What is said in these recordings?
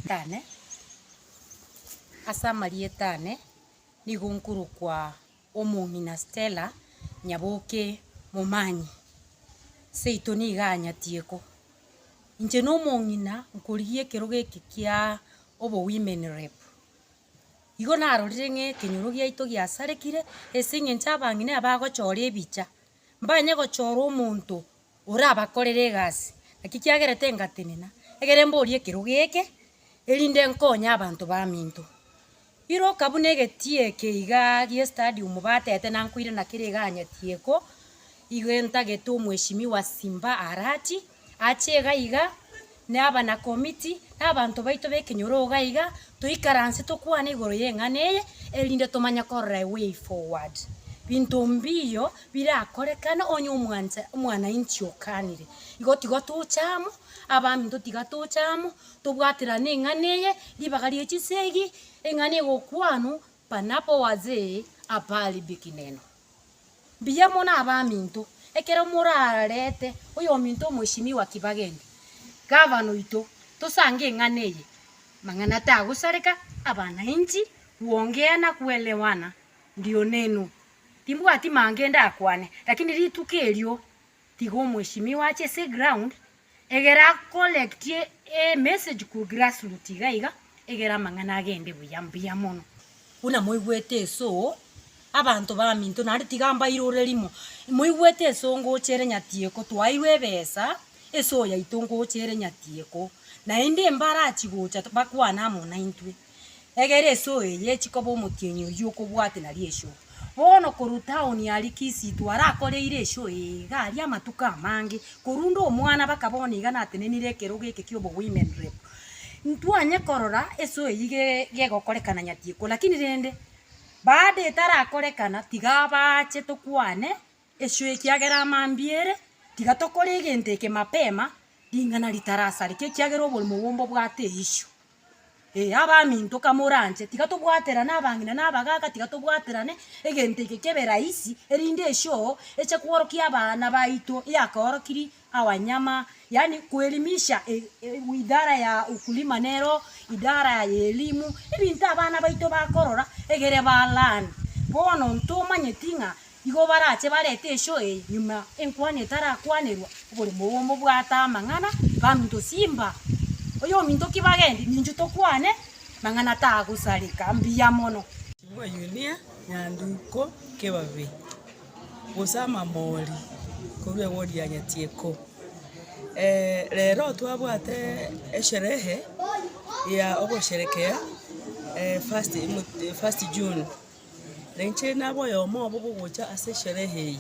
Ritane, Ase amarieta ane nigo nkorokwa omong'ina Stella Nyaboke Momanyi. Seito nigo anyatie ko. Inche na omong'ina nkorigia ekerogo eke kia obo women rep. Igo narorire ng'a ekenyoro giaito giasarekire ase eng'encho abang'ina bagochora ebicha. Mbanye gochora omonto orabakorere egasi. Naki kiagera tengatenena, egere mborie ekerogo eke, erinde nkonye abanto baminto. Iroka buna egetie eke igaa gi'estadium batete nankoirana kere iga anyatieko, igo entagete omweshimiwa Simba Arati, ache iga iga, na abanakomiti, na abanto baito b'ekenyoro iga iga, toikaranse tokwane igoro y'eng'ana eye, erinde tomanye korora a way forward, binto mbiiyo birakorekane onye omwancha omwanainchi okanire. Igo tiga tocha amo, abaminto tiga tocha amo, tobwaterane eng'ana eye, ribaga rie chisegi, eng'ana egokwanwa panapo wazee apaharibikineno. Mbuya mono abaminto, ekero morarete oyominto omweshimiwa Kibagende, gavana oito, tosange eng'ana eye, mang'ana tagosareka abanainchi, kuongea na kuelewana ndio nenu. Timbwati mange ndakwane, lakini rituko erio Tiga omweshimiwa ache ase eground egere a collectie emessage korwa grassroot iga iga egere amang'ana agende buya mbuya mono. Buna moigwete esoo abanto baminto naende tiga mbairore rimo, moigwete esoo ngocha ere nyatieko twairwe ebesa esoo yaito ngocha ere nyatieko naende mbarachi gocha bakwane amo naintwe. Egere esoo eye echi koba omotienyi oyio okobwate na riesho. Bono korwa town ya Likisitu arakoreire esho eye iga aria amatuko amange korunda omwana baka bono iga natenenire ekerogo eke kia obo women rep. Ntwanye korora esoo eyio ge gegokorekana nyatieko lakini rende baada etarakorekana tiga bache tokwane Esio ekiagera amambia ere, tiga tokore egento eke mapema, ring'ana ritarasareke, ekiagera oborimo obo mbobwate eisio. Ee, abaminto kamoranche, tiga tobwaterane abang'ina na abagaaka, tiga tobwaterane egento eke kebe rahisi, erinde esio eche kworokia abana baito yakoorokiri awanyama, yaani kuelimisha idara ya ukulima nero idara ya elimu, ebinto abana baito bakorora egere ba learn. Bono ntomanyeti ng'a igo barache barete eshow eye nyuma enkwani etarakwanerwa obore mogomo bwate amang'ana kaminto simba oyominto ki bagendi ninchu tokwane mang'ana tagosareka mbuya mono. Omoyunia nyanduko kebabe. Gose amambori korwa ewodi ya Nyatieko. Rero twabwate esherehe ya ogosherekea first first June, na inche nabe oyomo obo bogocha ase esherehe eye.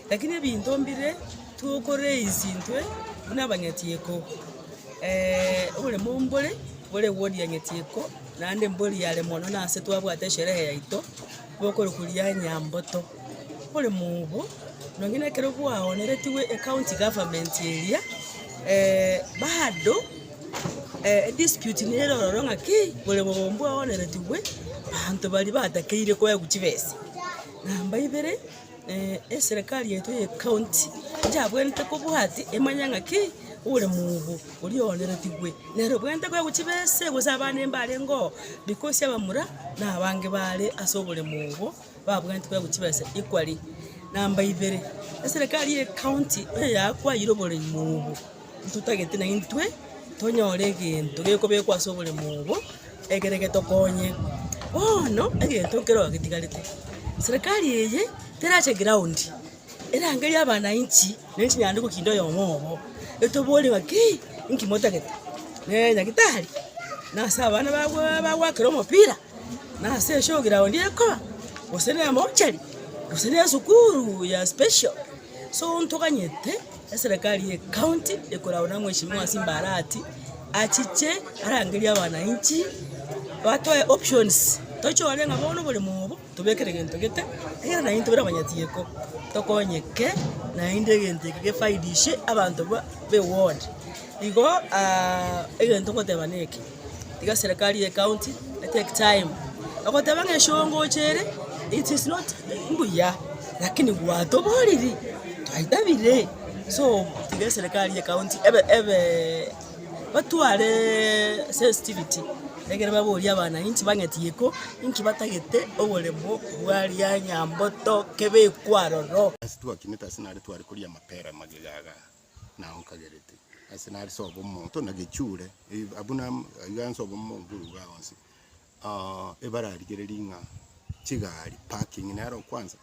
Lakini ebinto mbire toko raise intwe buna abanyatieko oboremo mbore bore ewodi ya Nyatieko, naende mbori yare mono nase twabwate esherehe yaito. Gokorokwa ria Nyamboto. Ore mobu, nonya nekero gwaoneretigwe ecounty government eria, bado edispute nere ororo ng'a ki bore bobe mbwaoneretigwe, banto baria batakeire koegwa chibesa. Namba ibere. Eserekari yaito ye county yabwenerete kobwati emanya ng'aki ore mogogo oria oaneretigwe nere obwenerete koba gochia be ese gose abana mbarenge oo because abamura na abange bare ase oboremo obo babwenerete koba gochia be ese equally. Number ibere, eserekari ye county eyakwayire oboremo obo. Ntotagete naintwe tonyore egento gekobekwa ase oboremo obo, ekere getokonye. Bono egento nkeroo getigarete, serikari eye terache ground, erangerie abananchi ne chinyanduko kinde oyomo obo, etoborie ng'aki inki motagete, ne nyagitari, na ase abana bago bagwakera omopira, na ase eshow ground ekoba, gose ne emochari, gose ne esukuru ya special. So ntoganyete. Eserekari ye county ekoragwa na mweshimiwa Simbarati achiche arangerie abanainchi batoe options tochore ng'a bono oboremo obo tobekere gento gete ekiagera naende intwe buna abanyachieko tokonyeke naende egento eke gefaidishe abanto ba eward igo egento ngoteba neke. Tiga serikali ye county e take time ogoteba ng'a eshongocha ere it is not mbuya lakini gwatoboriri twaitabire so tiga serikali ye county ebe ebe batware sensitivity egere baborie abananchi bang'eti iko inki batagete oboremo bwaria nyamboto kebe ekwo aroro. Ase twakinete ase nare tware koria amapera magega igaa. na onkagerete, ase nare sobo omonto na gechule, eh, abwo na iga nsobo omonto oruga onsi. Ah, ebararigereria ng'a chigari parking nero kwanza,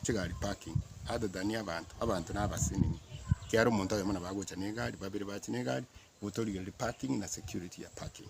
chigari parking other than abanto, abanto na abasenini, ekiagera omonto oyomo nabo agocha na egari, babere bache na egari, igo torigereria parking na security ya parking.